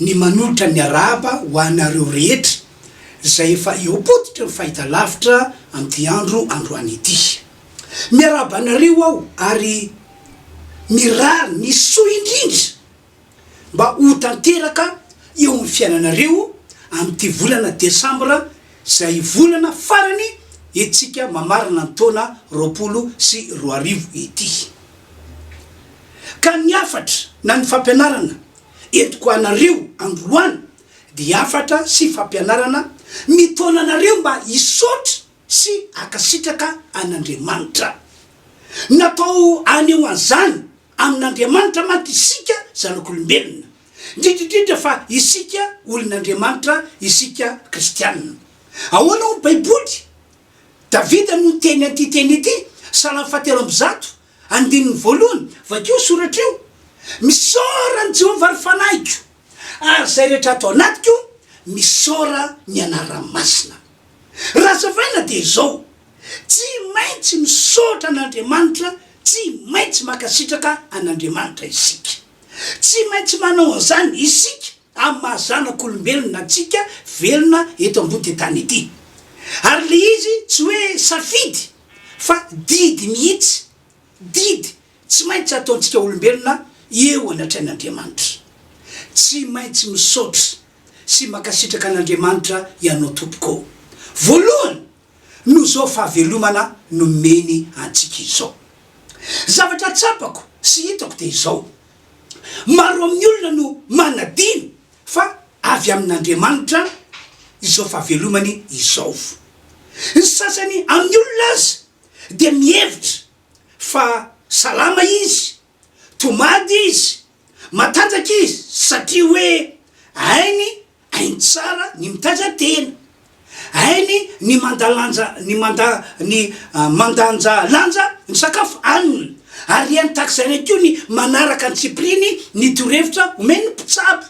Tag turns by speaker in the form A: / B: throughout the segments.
A: ny manolotra ny arahaba ho anareo rehetra izay efa eo am-pototry ny fahitalavitra amin'ity andro androany ity. Miarahaba anareo aho ary mirary ny soa indrindra mba ho tanteraka eo amin'ny fiainanareo amin'ity volana desambra izay volana farany entsika mamarana ny taona roapolo sy roa arivo ity. Ka ny hafatra na ny fampianarana entiko anareo androany dia hafatra sy fampianarana mitaona anareo mba hisaotra sy akasitraka an'Andriamanitra. Natao hanehoan'izany amin'Andriamanitra mantsy isika zanak'olombelona, indrindra indrindra fa isika olon'Andriamanitra, isika kristiana. Ahoana hoy ny Baiboly? Davida no niteny an'ity teny ity, Salamo fahatelo amby zato, Andininy voalohany, Vakio io soratra io, Misaora an'i Jehovah ry fanahiko, ary izay rehetra ato anatiko, misaora ny anarany masina. Raha hazavaina dia izao, Tsy maintsy misaotra an'Andriamanitra, tsy maintsy mankasitraka an'Andriamanitra isika. Tsy maintsy manao an'izany isika. amin'ny maha zanak'olombelona antsika velona eto ambody tany ity. Ary ilay izy tsy hoe safidy fa didy mihitsy, didy tsy maintsy ataontsika olombelona eo anatrehan'Andriamanitra. Tsy maintsy misaotra sy mankasitraka an'Andriamanitra ianao tompoko ô! Voalohany noho izao fahavelomana nomeny antsika izao. Zavatra tsapako sy hitako dia izao, maro amin'ny olona no manadino fa avy amin'Andriamanitra izao fahavelomany izao. Ny sasany amin'ny olona aza dia mihevitra fa salama izy Tomady izy, matanjaka izy satria hoe hainy hainy tsara ny mitaiza tena, hainy ny mandalanja ny manda ny mandanja lanja ny sakafo haniny, ary hainy tahaka izany ihany koa ny manaraka antsipiriany ny torohevitra omen'ny mpitsabo.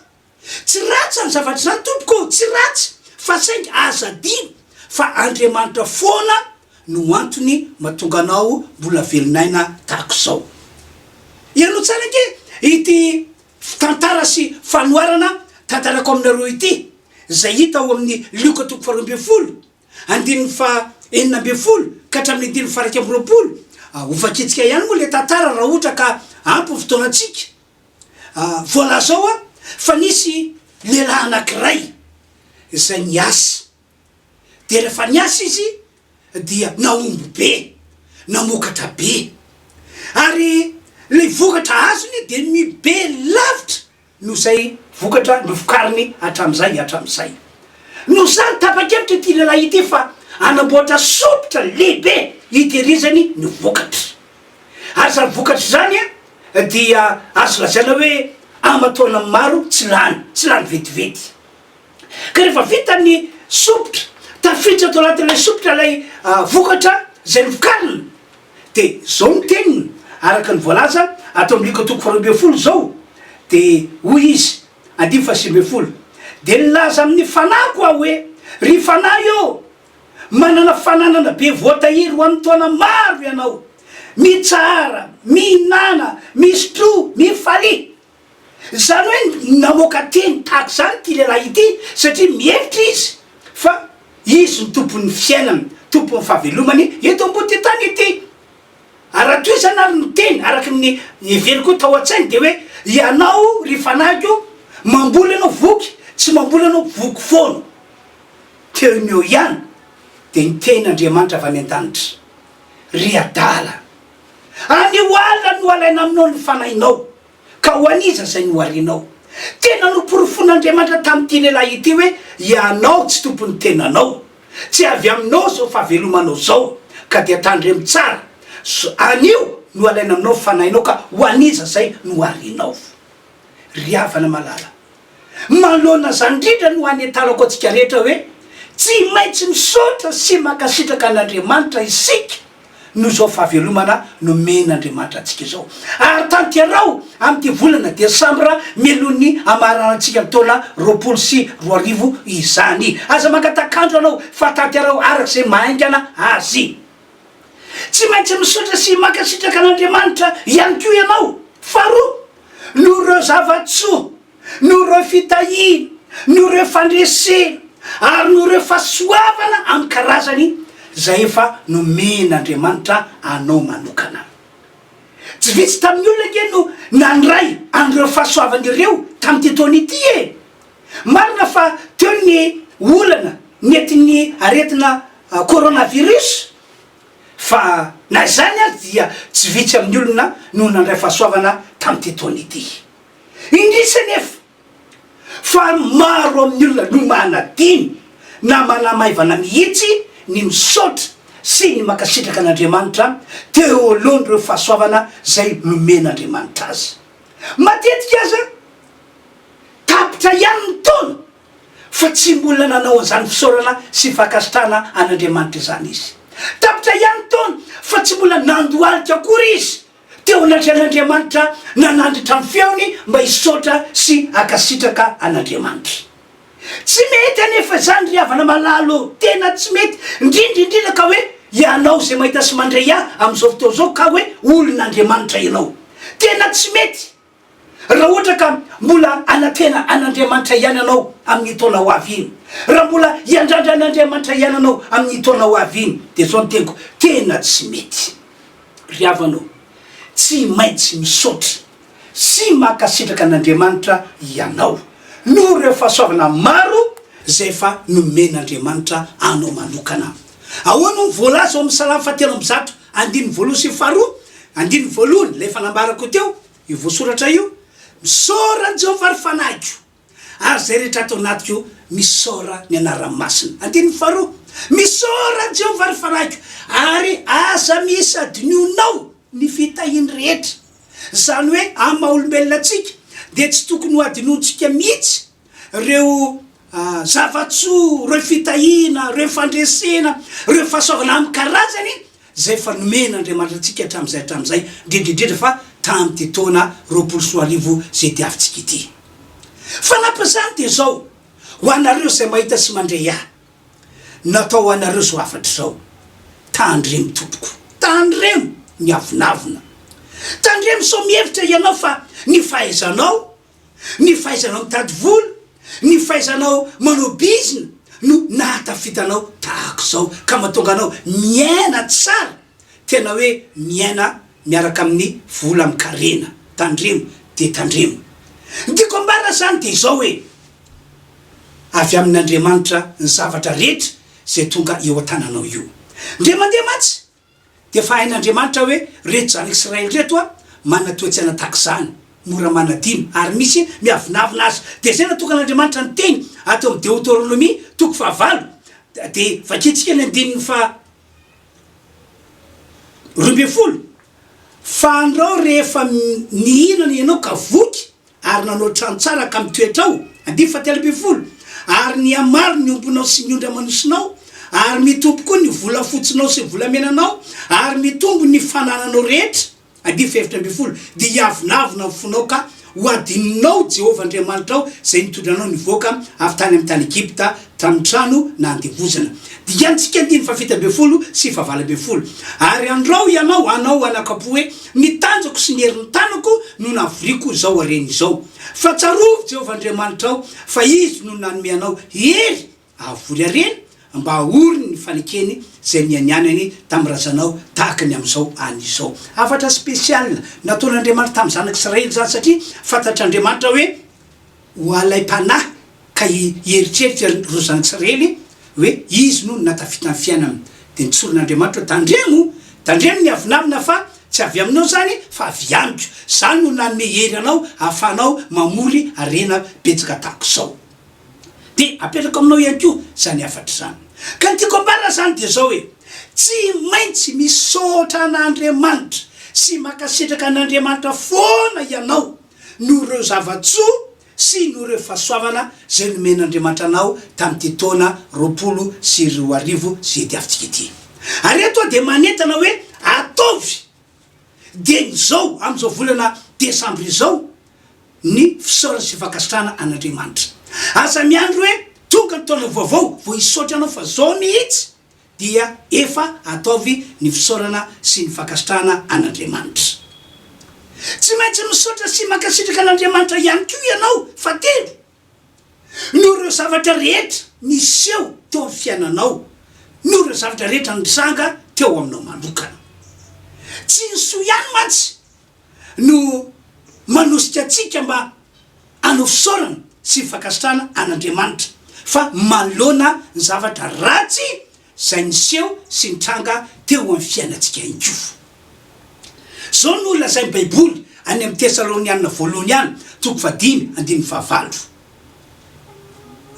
A: Tsy ratsy izany zavatra izany tompoko ô, tsy ratsy, fa saingy aza adino fa Andriamanitra foana no antony mahatonga anao mbola velon'aina tahaka izao. Hianao tsara ange ity tantara sy fanoharana tantarako aminareo ity, izay hita ao amin'ny Lioka toko faharoa ambin'ny folo, andininy faha enina ambin'ny folo ka hatramin'ny andininy faha iraika amby roapolo. Hovakitsika ihany moa ilay tantara raha ohatra ka ampy ny fotoanantsika. Voalaza ao fa nisy lehilahy anankiray izay niasa, dia rehefa niasa izy dia nahomby be, namokatra be, ary ilay vokatra azony dia mihobe lavitra noho izay vokatra novokariny hatramin'izay hatramin'izay. Noho izany, tapa-kevitra ity lehilahy ity fa hanamboatra sompitra lehibe hitehirizany ny vokatra. Ary izany vokatra izany dia azo lazaina hoe aman-taonany maro tsy lany, tsy lany vetivety. Ka rehefa vita ny sompitra, tafiditra tao anatin'ilay sompitra ilay vokatra izay novokarina, dia izao ny teniny araka ny voalaza ato amin'ny Lko toko faharoa ambin'ny folo izao, dia hoy Izy, andininy fahasivy ambin'ny folo, Dia nilaza amin'ny fanahiko aho hoe, Ry fanahy ô! Manana fananana be voatahiry ho amin'ny taona maro ianao. Mitsahara, mihinàna, misotroa, mifalia. Izany hoe namoaka teny tahaka izany ity lehilahy ity satria mihevitra izy fa izy no tompon'ny fiainany, tompon'ny fahavelomany eto ambon'ity tany ity. Ary raha toa izany ary ny teny araka ny heveriko tao an-tsainy dia hoe, ianao ry fanahiko, mamboly ianao voky, tsy mamboly ianao voky foana. Teo no eo ihany dia niteny Andriamanitra avy any an-danitra, Ry Adala, any ho ala no alaina aminao ny fanahinao, ka ho an'iza izay noharianao? Tena noporofoin'Andriamanitra tamin'ity lehilahy ity hoe, Ianao tsy tompon'ny tenanao. Tsy avy aminao izao fahavelomanao izao, ka dia tandremo tsara. Anio no alaina aminao ny fanahinao, ka ho an'iza izay noharianao? Ry havana malala, Manoloana izany indrindra no hanetarako antsika rehetra hoe tsy maintsy misaotra sy mankasitraka an'Andriamanitra isika noho izao fahavelomana nomen'Andriamanitra antsika izao. Ary tanteraho amin'ity volana desambra mialohan'ny hamahararantsika ny taona roapolo sy roa arivo izany. Aza mangatak'andro ianao fa tanteraho araka izay mahaingana azy. Tsy maintsy misaotra sy mankasitraka an'Andriamanitra ihany koa ianao. Faharoa, noho ireo zava-tsoa, noho ireo fitahiana, noho ireo fandresena, ary noho ireo fahasoavana amin'ny karazany izay efa nomen'Andriamanitra anao manokana. Tsy vitsy tamin'ny olona ange no nandray an'ireo fahasoavana ireo tamin'ity taona ity e! Marina fa teo ny olana nentin'ny aretina coronavirus, Fa na izany aza dia tsy vitsy amin'ny olona no nandray fahasoavana tamin'ity taona ity. Indrisy anefa fa maro amin'ny olona no manadino na manamaivana mihitsy ny misaotra sy ny mankasitraka an'Andriamanitra teo alohan'ireo fahasoavana izay nomen'Andriamanitra azy. Matetika aza tapitra ihany ny taona. fa tsy mbola nanao an'izany fisaorana sy fankasitrahana an'Andriamanitra izany izy. Tapitra ihany ny taona fa tsy mbola nandohalika akory izy teo anatrehan'Andriamanitra nanandritra ny feony mba hisaotra sy hankasitraka an'Andriamanitra. Tsy mety anefa izany ry havana malala ô, tena tsy mety, indrindra indrindra ka hoe ianao izay mahita sy mandre ahy amin'izao fotoana izao ka hoe olon'Andriamanitra ianao. Tena tsy mety! Raha ohatra ka mbola hanantena an'Andriamanitra ihany ianao amin'iny taona ho avy iny, raha mbola hiandrandra an'Andriamanitra ihany ianao amin'iny taona ho avy iny, dia izao no teniko, tena tsy mety. Ry havana ô, tsy maintsy misaotra sy mankasitraka an'Andriamanitra ianao noho ireo fahasoavana maro izay efa nomen'Andriamanitra anao manokana. Ahoana hono voalaza ao amin'ny Salamo fahatelo amby zato Andininy voalohany sy faharoa, andininy voalohany, ilay efa nambarako teo, io voasoratra io, Misaora an'i Jehovah ry fanahiko, ary izay rehetra ato anatiko misaora ny anarany masina. Andininy faharoa, Misaora an'i Jehovah ry fanahiko, ary aza misy hadinonao ny fitahiany rehetra. Izany hoe amin'ny maha-olombelona antsika dia tsy tokony hohadinointsika mihitsy Ireo zava-tsoa, ireo fitahiana, ireo fandresena, ireo fahasoavana amin'ny karazany izay efa nomen'Andriamanitra antsika hatramin'izay hatramin'izay, indrindra indrindra fa tamin'ity taona roapolo sy roa arivo izay diavintsika ity. Fanampin'izany dia izao, ho anareo izay mahita sy mandre ahy, natao ho anareo izao hafatra izao, Tandremo tompoko, tandremo miavonavona. Tandremo sao mihevitra ianao fa ny fahaizanao Ny fahaizanao mitady vola, ny fahaizanao manao bizina no nahatafita anao tahaka izao ka mahatonga anao miaina tsara, tena hoe miaina miaraka amin'ny vola amin-karena. Tandremo dia tandremo. Ny tiako ambara izany dia izao hoe, avy amin'Andriamanitra ny zavatra rehetra izay tonga eo an-tananao io. Ndray mandeha mantsy Dia efa hain'Andriamanitra hoe reto zanak'Israely reto a, manana toe-tsaina tahaka izany, mora manadino, ary misy miavonavona azy. Dia izay natokan'Andriamanitra ny teny ato amin'ny Deoteronomia toko fahavalo. Dia vakintsika ny andininy faha roa ambin'ny folo, Fa andrao rehefa mihinana ianao ka voky, ary nanao trano tsara ka mitoetra ao, andiany fahatelo ambin'ny folo, ary nihamaro ny ombinao sy ny ondry aman'osinao, ary mitombo koa ny volafotsinao sy ny volamenanao, ary mitombo ny fanananao rehetra, andiany fahefatra ambin'ny folo, dia hiavonavona ny fonao ka hohadininao Jehovah Andriamanitrao izay nitondra anao nivoaka avy tany amin'ny tany Egypta Tranotrano na andevozana. Dikantsika andininy fahafito ambin'ny folo sy fahavalo ambin'ny folo. Ary andrao ianao hanao anaka-po hoe, Ny tanjako sy ny herin'ny tanako no nahavoriako izao harena izao. Fa tsarovy Jehovah Andriamanitrao fa izy no nanome anao hery hahavory harena, mba hahory ny fanekeny izay nianianany tamin'ny razanao tahaka ny amin'izao any izao. Hafatra spécial nataon'Andriamanitra tamin'ny zanak'Israely izany satria fantatr'Andriamanitra hoe, ho alaim-panahy ka hieritreritra ry Rozan tsy reny hoe izy no nahatafita ny fiainany dia nitsorin'Andriamanitra hoe tandremo, tandremo ny avonavona fa tsy avy aminao izany fa avy amiko, izaho no nanome hery anao hahafahanao mamory harena betsaka tahaka izao dia apetrako aminao ihany koa izany hafatra izany. Ka ny tiako ambara izany dia izao hoe tsy maintsy misaotra an'Andriamanitra sy mankasitraka an'Andriamanitra foana ianao, noho ireo zava-tsoa sy noho ireo fahasoavana izay nomen'Andriamanitra anao tamin'ity taona roapolo sy roa arivo izay diavintsika ity. Ary eto aho dia manentana hoe ataovy dieny izao amin'izao volana desambra izao ny fisaorana sy fankasitrahana an'Andriamanitra. Aza miandry hoe tonga ny taona vaovao vao hisaotra anao fa izao mihitsy dia efa ataovy ny fisaorana sy ny fankasitrahana an'Andriamanitra. Tsy maintsy misaotra sy mankasitraka an'Andriamanitra ihany koa ianao fa telo noho ireo zavatra rehetra niseho teo amin'ny fiainanao, noho ireo zavatra rehetra nitranga teo aminao manokana. Tsy ny soa ihany mantsy no manosika antsika mba hanao fisaorana sy fankasitrahana an'Andriamanitra fa manoloana ny zavatra ratsy izay niseho sy nitranga teo amin'ny fiainantsika ihany koa. Izao no lazain'ny Baiboly any amin'ny Tesalonianina Voalohany any, toko fahadimy, andininy fahavalo.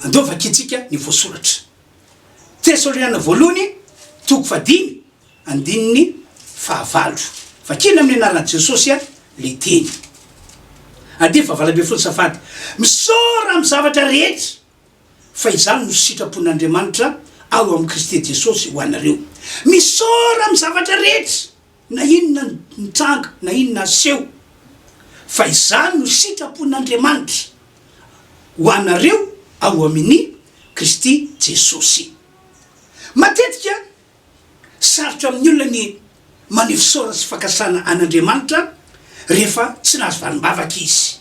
A: Andeha hovakintsika ny voasoratra. Tesaloniana Voalohany toko fahadimy andininy fahavalo. Vakina amin'ny anaran'i Jesosy le teny. Andininy fahavalo ambin'ny folo Safady misaora amin'ny zavatra rehetra fa izany no sitrapon'Andriamanitra ao amin'i Kristy Jesosy ho anareo. Misaora amin'ny zavatra rehetra. Na inona nitranga na inona niseho, fa izany no sitrapon'Andriamanitra ho anareo ao amin'i Kristy Jesosy. Matetika, sarotra amin'ny olona ny maneho fisaorana sy fankasitrahana an'Andriamanitra rehefa tsy nahazo valim-bavaka izy.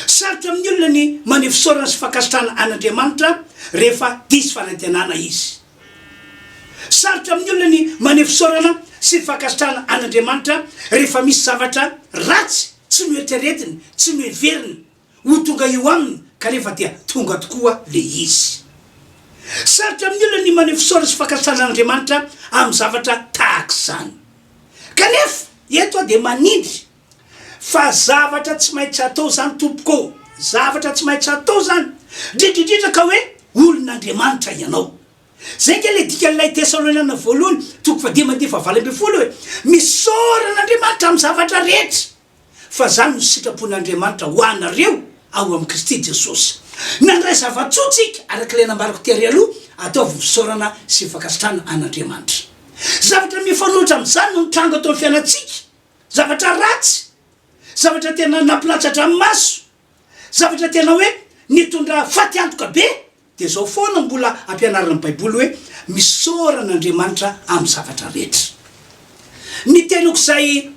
A: Sarotra amin'ny olona ny maneho fisaorana sy fankasitrahana an'Andriamanitra rehefa diso fanantenana izy. Sarotra amin'ny olona ny maneho fisaorana sy fankasitrahana an'Andriamanitra rehefa misy zavatra ratsy tsy noeritreretiny, tsy noheveriny, ho tonga eo aminy kanefa dia tonga tokoa ilay izy. Sarotra amin'ny olona ny maneho fisaorana sy fankasitrahana an'Andriamanitra amin'ny zavatra tahaka izany. Kanefa, eto aho dia manindry Fa zavatra tsy maintsy atao zany tompoko ô! Zavatra tsy maintsy atao zany! Ndrindrindrindra ka hoe olon'Andriamanitra ianao. Zay nge le dikan'ilay Tesaloniana voalohany toko fahadimy andininy fahavalo ambin'ny folo hoe, Misaora an'Andriamanitra amin'ny zavatra rehetra, fa zany no sitrapon'Andriamanitra ho anareo ao amin'i Kristy Jesosy. Nandray zava-tsoa tsika araka ilay nambarako tery aloha, ataovy fisaorana sy fankasitrahana an'Andriamanitra. Zavatra mifanohitra amin'izany no nitranga tao amin'ny fiainantsika Zavatra ratsy, zavatra tena nampilatsa-dranomaso, zavatra tena hoe nitondra fatiantoka be, dia izao foana mbola ampianarina ny Baiboly hoe, Misaora an'Andriamanitra amin'ny zavatra rehetra. Ny teniko izay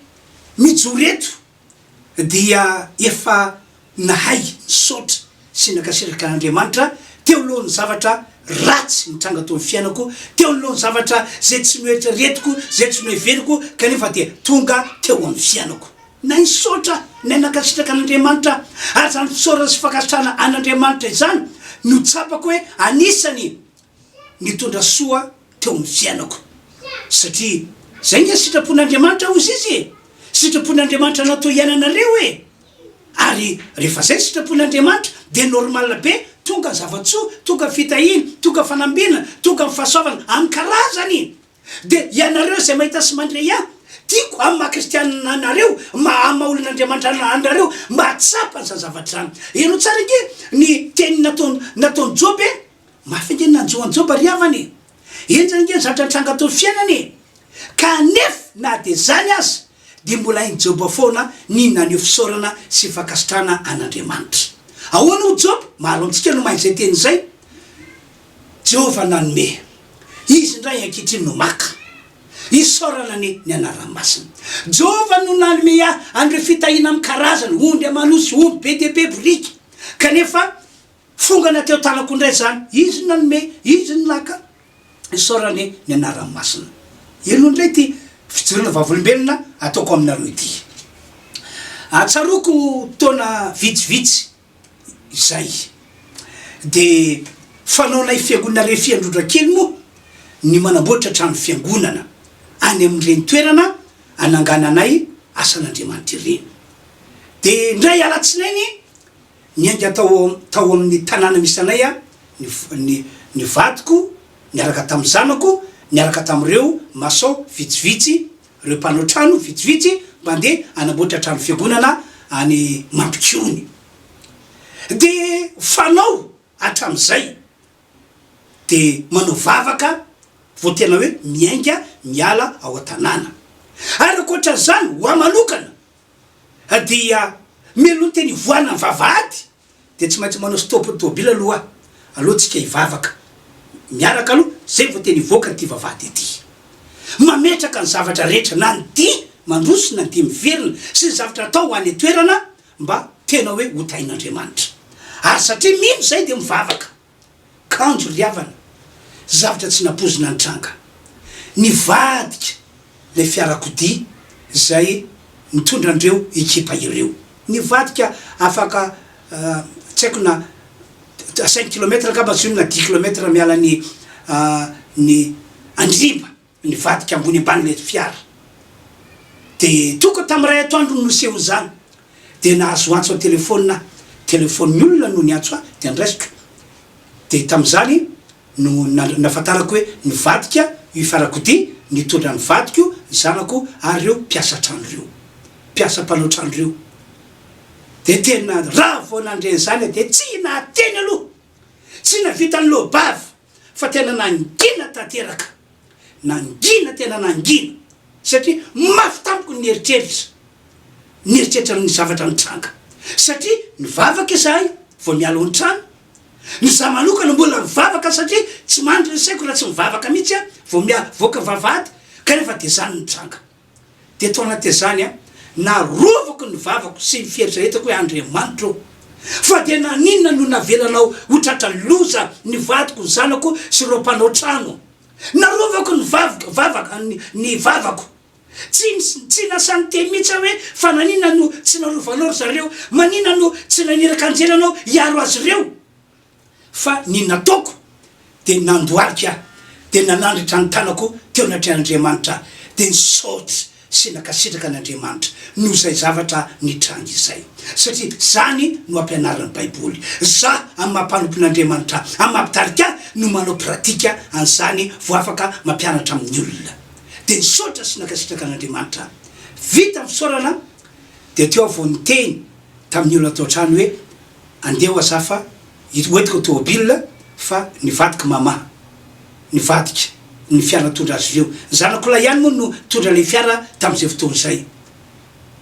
A: mijoro eto dia efa nahay nisaotra sy nankasitraka an'Andriamanitra teo alohan'ny zavatra ratsy nitranga teo amin'ny fiainako, teo anoloan'ny zavatra izay tsy noeritreretiko, izay tsy noheveriko kanefa dia tonga teo amin'ny fiainako. Nahay nisaotra, nahay nankasitraka an'Andriamanitra, ary izany fisaorana sy fankasitrahana an'Andriamanitra izany no tsapako hoe anisan'ny nitondra soa teo amin'ny fiainako, satria izay nge sitrapon'Andriamanitra hozy izy e! Sitrapon'Andriamanitra natao hiainanareo e! Ary rehefa zay sitrapon'i Andriamanitra dia normal be tonga zavatsoa, tonga fitahiana, tonga fanambinana, tonga ny fahasoavana amin'ny karazany! Dia ianareo izay mahita sy mandre ya tiako amin'ny maha kristianina anareo, maha maha olon'Andriamanitra anareo mba hahatsapa an'izany zavatra izany. Heno tsara ange ny teny nataon'i nataon'i Joba e! Mafy ange ny nanjo an'i Joba ry havana e! Enjana ange ny zatra nitranga teo fiainany e! Ka nef na dia zany aza dia mbola hain'i Joba foana ny naneho fisaorana sy fankasitrahana an'Andriamanitra. Ahoana hoy Joba? Maro amintsika no mahay izay teny izay, Jehovah nanome, Izy indray ankehitriny no maka. Isaorana anie ny anarany masina. Jehovah no nanome ahy an'ireo fitahiana amin'ny karazana, ondry aman'osy, omby be dia be, boriky. Kanefa Fongana teo tanako indray izany, izy no nanome, izy no naka. Isaorane ny anarany masina. Eny hono indray ity fijoroana vavolombelona ataoko aminareo ity. Ahatsaroko taona vitsivitsy izay, dia fanaonay fiangonana refy Androndrakely moa ny manamboatra trano fiangonana any amin'ireny toerana anangananay asan'Andriamanitra ireny. Dia indray alatsinainy, Niainga tao tao amin'ny tanàna misy anay aho, ny ny ny vadiko niaraka tamin'ny zanako, niaraka tamin'ireo masao vitsivitsy, ireo mpanao trano vitsivitsy mpandeha hanamboatra trano fiangonana any Mampikony. Dia fanao hatramin'izay, dia manao vavaka vao tena hoe miainga miala ao an-tanàna. Ary ankoatra an'izany, ho ahy manokana, dia mialoha teny hivoahana ny vavahady dia tsy maintsy manao stop ny tomobila aloha aloha tsika hivavaka miaraka aloha zay vao teny hivoaka an'ity vavahady ity mametraka ny zavatra rehetra na ny dihy mandroso na ny dihy miverina sy ny zavatra atao ho any an-toerana mba tena hoe ho tahin'Andriamanitra ary satria mino izay dia mivavaka kanjo ry havana, zavatra tsy nampoizina nitranga. Nivadika ilay fiarakodia izay nitondra an'ireo ekipa ireo. Nivadika afaka tsy haiko na cinq kilomètres angamba tsy hoe na dix kilomètres miala ny ny Andriba. Nivadika ambony ambany ireto fiara dia tokony tamin'ny iray atoandro no niseho izany dia nahazo antso an-telefaonina aho, telefaon'ny olona no niantso ahy dia noraisiko dia tamin'izany no nahafantarako hoe nivadika io fiarakodia nitondra ny vadiko, ny zanako ary ireo mpiasa trano ireo, mpiasa mpanao trano ireo dia tena raha vao nandre an'izany aho dia tsy nahateny aloha, tsy nahavita niloa-bava. fa tena nangina tanteraka, nangina tena nangina satria mafy tamiko ny eritreritra, nieritreritra ny zavatra nitranga satria nivavaka izahay vao miala ao an-trano, ny za manokana mbola nivavaka satria tsy mandry ny saiko raha tsy mivavaka mihitsy aho vao miavoaka vavahady kanefa dia izany nitranga. dia tao anatin'izany aho narovako ny vavako sy ny fieritreretako hoe Andriamanitra ô, fa dia naninona no navelanao ho tratra loza ny vadiko, ny zanako sy ireo mpanao trano? Narovako ny vavako, vavaka, ny vavako. Tsy, tsy lasa niteny mihitsy aho hoe, Fa naninona no tsy narovanao ry zareo? Maninona no tsy naniraka anjely ianao hiaro azy ireo? Fa ny nataoko dia nandohalika aho, dia nanandratra ny tanako teo anatrehan'Andriamanitra aho, dia nisaotra sy nankasitraka an'Andriamanitra noho izay zavatra nitranga izay. Satria izany no ampianarin'ny Baiboly. Izaho, amin'ny maha mpanompon'Andriamanitra ahy, amin'ny maha mpitarika ahy, no manao pratika an'izany vao afaka mampianatra amin'ny olona. Dia nisaotra sy nankasitraka an'Andriamanitra aho. Vita ny fisaorana, dia teo aho vao niteny tamin'ny olona tao an-trano hoe, Andeha ho aza fa hoentiko ny tomobil fa nivadik'i Mama. Nivadika ny fiara nitondra azy ireo. Ny zanakolahy ihany moa no nitondra ilay fiara tamin'izay fotoana izay.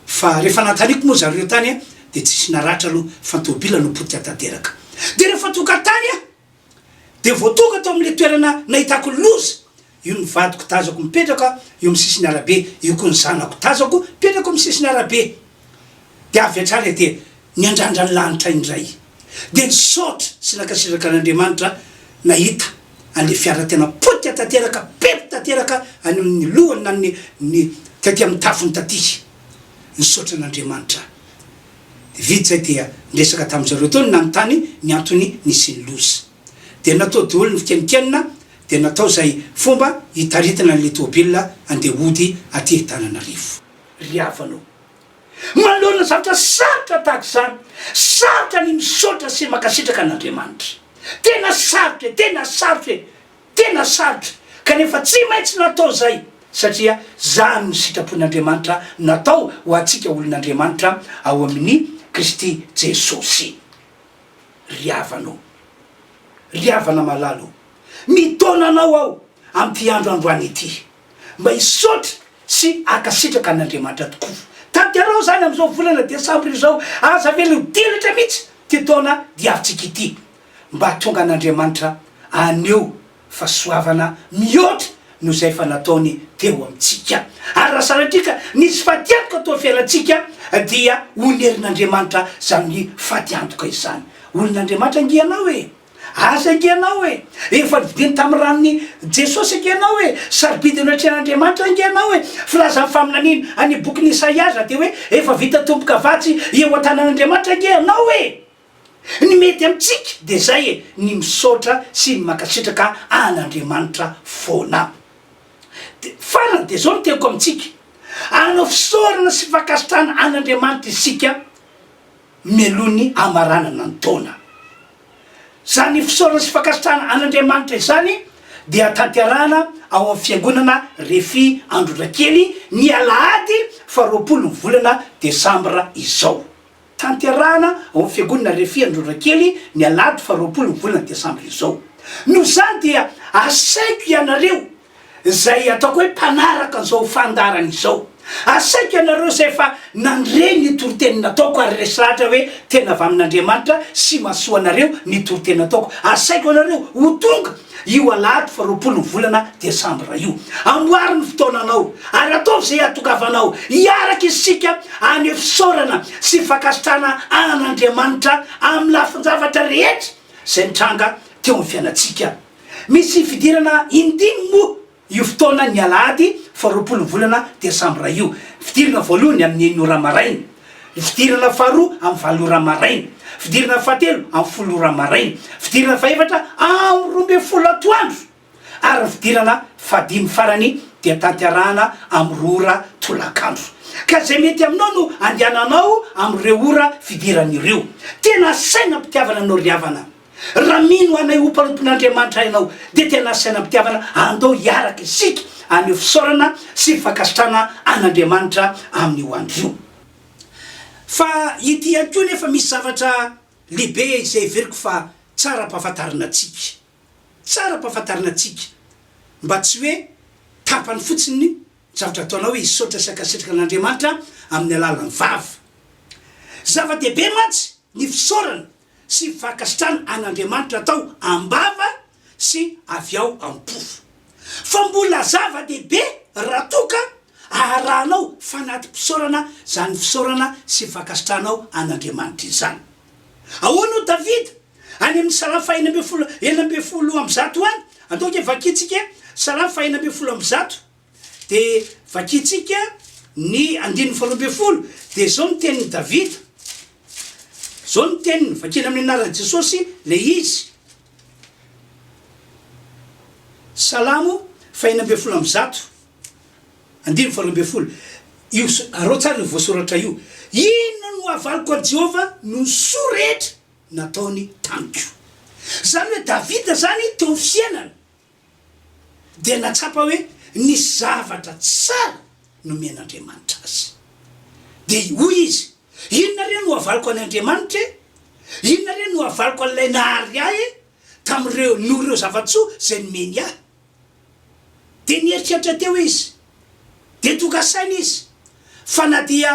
A: Fa rehefa nanontaniako moa zareo tany dia tsisy naratra aloha fa ny tomobil no potika tanteraka. Dia rehefa tonga tany aho Dia voatoka tao amin'ilay toerana nahitako loza io ny vadiko tazako mipetraka eo amin'ny sisin'ny arabe, io koa ny zanako tazako mipetraka eo amin'ny sisin'ny arabe. Dia avy hatrany aho dia niandrandra ny lanitra indray. Dia nisaotra sy nankasitraka an'Andriamanitra nahita an'ilay fiara tena potika tanteraka, perte tanteraka any amin'ny lohany na ny taty amin'ny tafony taty. Nisaotra an'Andriamanitra aho. Vita izay dia niresaka tamin-dry zareo teo ny nanontany ny antony nisian'ny loza. Dia natao daholo ny fikeninkenina dia natao izay fomba hitaritana an'ilay tomobilina handeha hody aty Antananarivo. Ry havana o! Manoloana zavatra sarotra tahaka izany, sarotra ny misaotra sy mankasitraka an'Andriamanitra. Tena sarotra e! Tena sarotra e! Tena sarotra, kanefa tsy maintsy natao izay, satria izany no sitrapon'Andriamanitra natao ho antsika olon'Andriamanitra ao amin'i Kristy Jesosy. Ry havana ô! Ry havana malala ô! Mitaona anao aho amin'ity andro androany ity, mba hisaotra sy hankasitraka an'Andriamanitra tokoa. Tanterao izany amin'izao volana desambra izao, aza avela ho dilatra mihitsy ity taona diavintsika ity. mba hahatonga an'Andriamanitra haneho fahasoavana mihoatra noho izay efa nataony teo amintsika. Ary raha sanatria ka nisy fatiantoka teo amin'ny fiainantsika, dia honerin'Andriamanitra izany fatiantoka izany. Olon'Andriamanitra ange ianao e! Azy ange ianao e! Efa novidiany tamin'ny ranon'i Jesosy ange ianao e! Sarobidy eo anatrehan'Andriamanitra ange ianao e! Filazan'ny faminaniana any bokin'i Isaia aza dia hoe, Efa vita tomboka vatsy eo an-tanan'Andriamanitra ange ianao e! Ny mety amintsika dia izay e, ny misaotra sy ny mankasitraka an'Andriamanitra foana. Dia farany dia izao ny teniko amintsika, hanao fisaorana sy fankasitrahana an'Andriamanitra isika mialoha ny hamaranana ny taona. Izany fisaorana sy fankasitrahana an'Andriamanitra izany dia tanterahana ao amin'ny fiangonana Refi Androndrakely ny alahady faharoapolo ny volana desambra izao. tanterahana ao amin'ny Fiangonana Refy Androrakely ny alahady faha roapolo ny volana desambra izao. Noho izany dia asaiko ianareo izay ataoko hoe mpanaraka an'izao fandaharana izao, asaiko ianareo izay efa nandre ny toriteny nataoko ary resy lahatra hoe tena avy amin'Andriamanitra sy mahasoa anareo ny toriteny nataoko, asaiko ianareo ho tonga io alahady faha roapolo ny volana desambra io. Amboary ny fotoananao ary ataovy izay iatokavanao hiaraka isika hanefisaorana sy hifankasitrahana an'Andriamanitra amin'ny lafin-javatra rehetra izay nitranga teo amin'ny fiainantsika. Misy fidirana indimy moa. Io fotoana ny alahady faha roapolo ny volana desambra io. Fidirana voalohany amin'ny enina ora maraina. Fidirana faharoa amin'ny valo ora maraina. Fidirana fahatelo amin'ny folo ora maraina. Fidirana fahefatra amin'ny roa ambin'ny folo atoandro. Ary ny fidirana fahadimy farany dia tanterahana amin'ny roa ora tolakandro. Ka izay mety aminao no andehananao amin'ireo ora fidirana ireo. Tena asaina am-pitiavana anao ry havana. Raha mino anay ho mpanompon'Andriamanitra ianao, dia tena asaina am-pitiavana andao hiaraka isika haneho fisaorana sy fankasitrahana an'Andriamanitra amin'io andro io. Fa ity ihany koa anefa misy zavatra lehibe izay heveriko fa tsara ampahafantarina antsika. Tsara ampahafantarina antsika, mba tsy hoe tapany fotsiny ny zavatra ataonao hoe hisaotra sy hankasitraka an'Andriamanitra amin'ny alalan'ny vava. Zava-dehibe mantsy ny fisaorana. sy fankasitrahana an'Andriamanitra atao am-bava sy avy ao am-po. Fa mbola zava-dehibe raha toa ka aharahanao fanati-pisaorana izany fisaorana sy fankasitrahanao an'Andriamanitra izany. Ahoana hoy Davida? Any amin'ny Salamo fahena ambin'ny folo, enina ambin'ny folo amby zato any, antoka vakintsika e, Salamo fahena ambin'ny folo amby zato. Dia vakintsika ny andininy faharoa ambin'ny folo, dia izao ny tenin'i Davida, izao ny teniny, vakina amin'ny anaran'i Jesosy ilay izy, Salamo fahenina ambin'ny folo amby zato, andininy faharoa ambin'ny folo, io araho tsara io voasoratra io, Inona no havaliko an'i Jehovah noho ny soa rehetra nataony tamiko? Izany hoe Davida izany teo amin'ny fiainany dia nahatsapa hoe nisy zavatra tsara nomen'Andriamanitra azy. Dia hoy izy, Inona re no havaliko an' Andriamanitra e? Inona re no havaliko an'Ilay nahary ahy e? tamin'ireo, noho ireo zava-tsoa izay nomeny ahy. Dia nieritreritra teo izy. Dia tonga saina izy fa na dia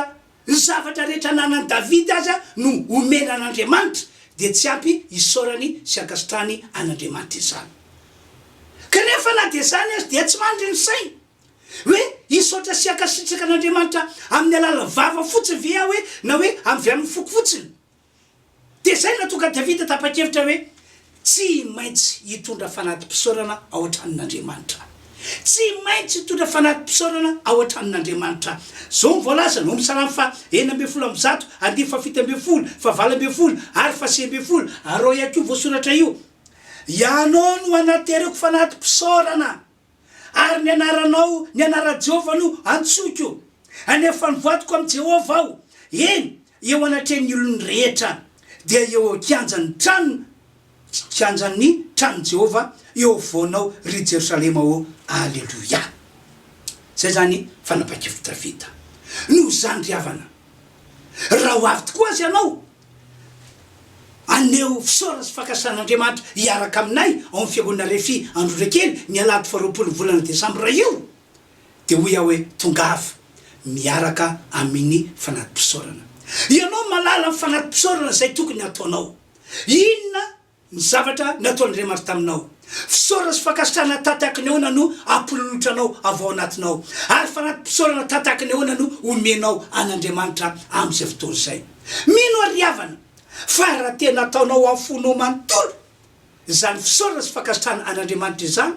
A: Ny zavatra rehetra ananan'i Davida aza no omena an'Andriamanitra, dia tsy ampy hisaorany sy hankasitrahany an'Andriamanitra izany. Kanefa na dia izany aza dia tsy mandry ny sainy. Hoe hisaotra sy hankasitraka an'Andriamanitra amin'ny alalan'ny vava fotsiny ve aho hoe na hoe avy amin'ny foko fotsiny? Dia izay no nahatonga an'i Davida tapa-kevitra hoe, Tsy maintsy hitondra fanati-pisaorana ao an-tranon'Andriamanitra aho. Tsy maintsy hitondra fanati-pisaorana ao an-tranon'Andriamanitra aho. Izao no voalazany, ao amin'ny Salamo faha enina ambin'ny folo amby zato, andiany fahafito ambin'ny folo, fahavalo ambin'ny folo ary fahasivy ambin'ny folo, ary ao ihany koa io voasoratra io, Ianao no hanaterako fanati-pisaorana. Ary ny anaranao, ny anaran'i Jehovah no antsoiko. Anefa nivadiko amin'i Jehovah aho, eny, eo anatrehan'ny olony rehetra, dia eo eo kianjan'ny trano, kianjan'ny tranon'i Jehovah, eo afovoanao, ry Jerosalema ô. Aleloia! Izay izany fanapahan-kevitr'i Davida. Noho izany ry havana, raha ho avy tokoa aza ianao, Aneho fisaorana sy fankasitrahana Andriamanitra hiaraka aminay ao amin'ny Fiangonana Refi Androrakely ny alahady faharoapolo ny volana desambra io dia hoy aho hoe tongava miaraka aminy fanati-pisaorana. Ianao malala ny fanati-pisaorana izay tokony hataonao. Inona? Ny zavatra nataon'Andriamanitra taminao. Fisaorana sy fankasitrahana tantaky ny ahoana no ampilolotranao avy ao anatinao? Ary fanati-pisaorana tantaky ny ahoana no omenao an'Andriamanitra amin'izay fotoana izay? Mino aho ry havana, fa raha tena ataonao amin'ny fonao manontolo izany fisaorana sy fankasitrahana an'Andriamanitra izany,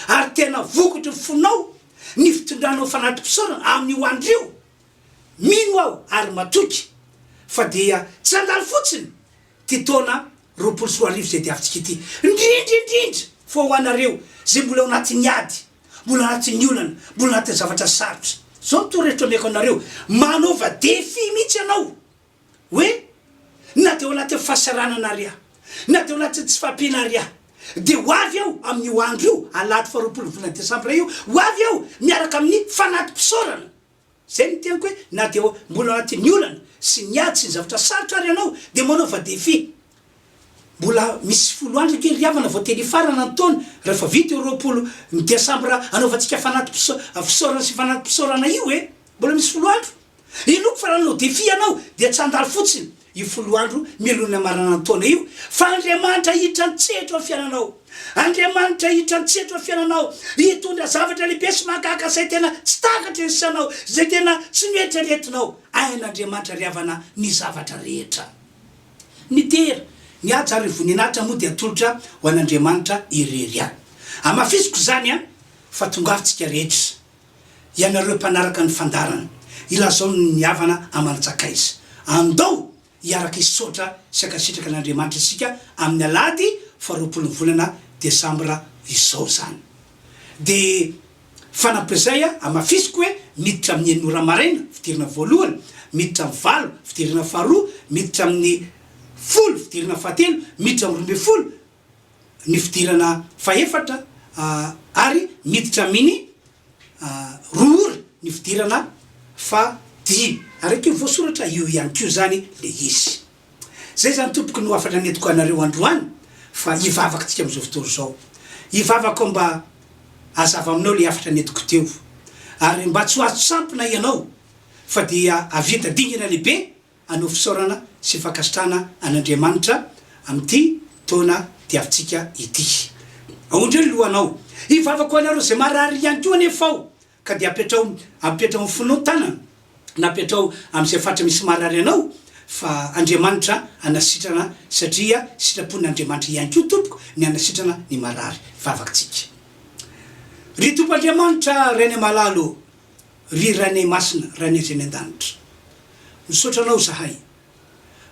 A: ary tena vokotry ny fonao ny fitondranao fanati-pisaorana amin'ny ho andrio, mino aho ary matoky fa dia tsy handalo fotsiny, Ty taona roapolo sy roa arivo izay diavintsika ity, indrindra indrindra fa ho anareo izay mbola ao anatin'ny ady, mbola anatin'ny olana, mbola anatin'ny zavatra sarotra. Izao ny torohevitra omeko anareo, manaova défi mihitsy ianao hoe na dia ao anatin'ny fahasaranana ary aho, na dia ao anatin'ny tsy fahampiana ary aho, dia ho avy aho amin'io andro io, alahady faharoapolo ny volana desambra io, ho avy aho miaraka amin'ny fanati-pisaorana. Izay no teniko hoe na dia mbola ao anatin'ny olana sy ny ady sy ny zavatra sarotra ary ianao dia manaova défi. Mbola misy folo andro kely ry havana vao teny hifarana ny taona, rehefa vita io roapolo ny desambra anaovantsika fanati-pisaorana sy fanati-pisaorana io e! Mbola misy folo andro. Inoako fa raha nanao défi ianao dia tsy handalo fotsiny. io folo andro mialohan'ny hamaranan'ny taona io, fa Andriamanitra hiditra an-tsehatra eo amin'ny fiainanao. Andriamanitra hiditra an-tsehatra eo amin'ny fiainanao, hitondra zavatra lehibe sy mahagaga izay tena tsy takatry ny sainao, izay tena tsy noeritreretinao. Hain'Andriamanitra ry havana ny zavatra rehetra. Ny dera, ny haja ary ny voninahitra moa dia atolotra ho an'Andriamanitra irery ihany. Hamafisiko izany an, fa tongavitsika rehetra ianareo mpanaraka ny fandaharana, ilazao ny nihavana aman-tsakaiza. Andao hiaraka hisaotra sy hankasitraka an'Andriamanitra isika amin'ny alahady faharoapolon'ny volana desambra izao izany. Dia fanampin'izay, hamafisiko hoe miditra amin'ny enina ora maraina fidirana voalohany, miditra amin'ny valo fidirana faharoa, miditra amin'ny folo fidirana fahatelo, miditra amin'ny roa ambin'ny folo, ny fidirana fahefatra ary miditra aminy roa ora ny fidirana fahadimy ary aty voasoratra eo ihany koa zany le izy zay zany tompoko no hafatra nentiko anareo androany fa hivavaka tsika amizao fotoana zao hivavaka aho mba hazava aminao le hafatra nentiko teo ary mba tsy ho azo tsampina ianao fa dia ahavita dingana lehibe Hanao fisaorana sy fankasitrahana an'Andriamanitra amin'ity taona diavintsika ity. Aondrio ny lohanao. Hivavaka ho anareo izay marary ihany koa anefa aho, ka dia apetraho apetraho amin'ny fonao ny tanana, na apetraho amin'izay faritra misy marary anao, fa Andriamanitra hanasitrana, satria sitrapon'Andriamanitra ihany koa tompoko ny hanasitrana ny marary. Vavaka tsika. Ry Tompo Andriamanitra, Rainay malala ô, Ry Rane Masina Rane Azy any an-danitra misaotra anao zahay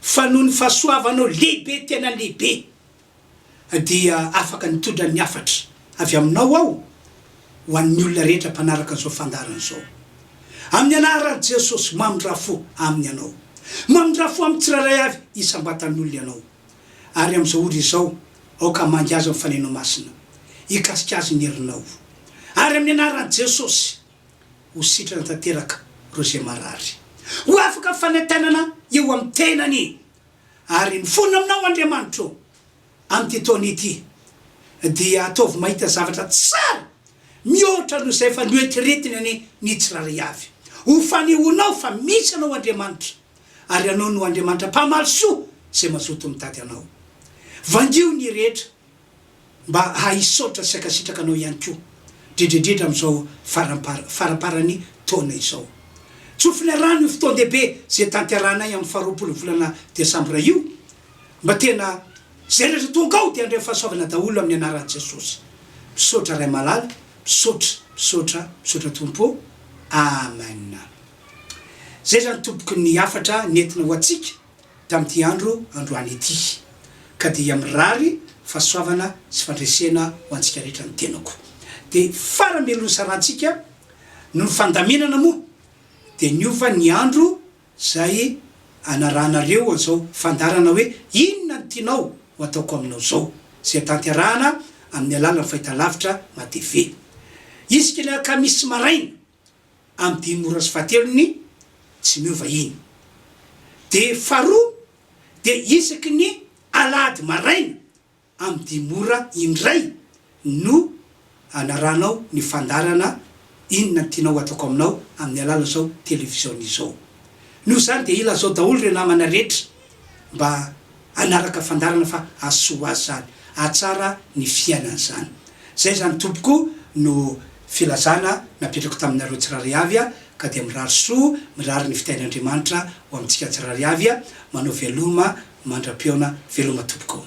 A: fa noho ny fahasoavanao lehibe tena lehibe dia afaka nitondra ny hafatra avy aminao aho ho an'ny olona rehetra mpanaraka izao fandaharana izao amin'ny anaran'i Jesosy mamindra fo aminy ianao mamindra fo amin'ny tsirairay avy isam-batan'olona ianao ary amin'izao ora izao aoka hamangy azy ny fanainao masina hikasika azy ny herinao ary amin'ny anaran'i Jesosy Ho sitrana tanteraka ireo izay marary. Ho afaka fanentanana eo amin'ny tenany. Ary mifona aminao Andriamanitro amin'ity taona ity. Dia ataovy mahita zavatra tsara mihoatra noho izay efa noetiretiny anie ny tsirairay avy. Ho fanehoanao fa misy anao Andriamanitra. Ary ianao no Andriamanitra mpamaly soa izay mazoto mitady anao. Vangio ny rehetra mba hahisaotra sy hankasitraka anao ihany koa dredredredra amin'izao farampara faramparan'ny taona izao. Tsofina rano io fotoan-dehibe izay tanterahanay amin'ny faharoapolon'ny volana desambra io mba tena izay rehetra tonga ao dia handray fahasoavana daholo amin'ny anaran'i Jesosy. Misaotra Ray malala, misaotra, misaotra, misaotra Tompo ô! Amen. Izay izany Tompoko ny hafatra nentina ho antsika. tamin'ity andro androany ity, ka dia mirary fahasoavana sy fandresena ho antsika rehetra ny tenako. Dia faramelon'ny sarantsika noho ny fandaminana moa dia niova ny andro izay anarahanareo an'izao fandaharana hoe Inona no Tianao ho Ataoko Aminao izao? izay tanterahana amin'ny alalan'ny fahitalavitra Matv isika ny alakamisy maraina. amin'ny dimy ora sy fahatelony tsy miova iny. Dia faharoa dia isaky ny alahady maraina amin'ny dimy ora indray no anaranao ny fandaharana inona no tianao hataoko aminao amin'ny alalan'izao televiziona izao. Noho izany dia ilazao daholo ireo namana rehetra mba hanaraka fandaharana fa hahasoa ho azy izany, hahatsara ny fiainany izany. Izay izany tompoko no filazana napetrako taminareo tsirairay avy ka dia mirary soa, mirary ny fitahian'Andriamanitra ho amintsika tsirairay avy, manao veloma mandra-pihaona, veloma tompoko.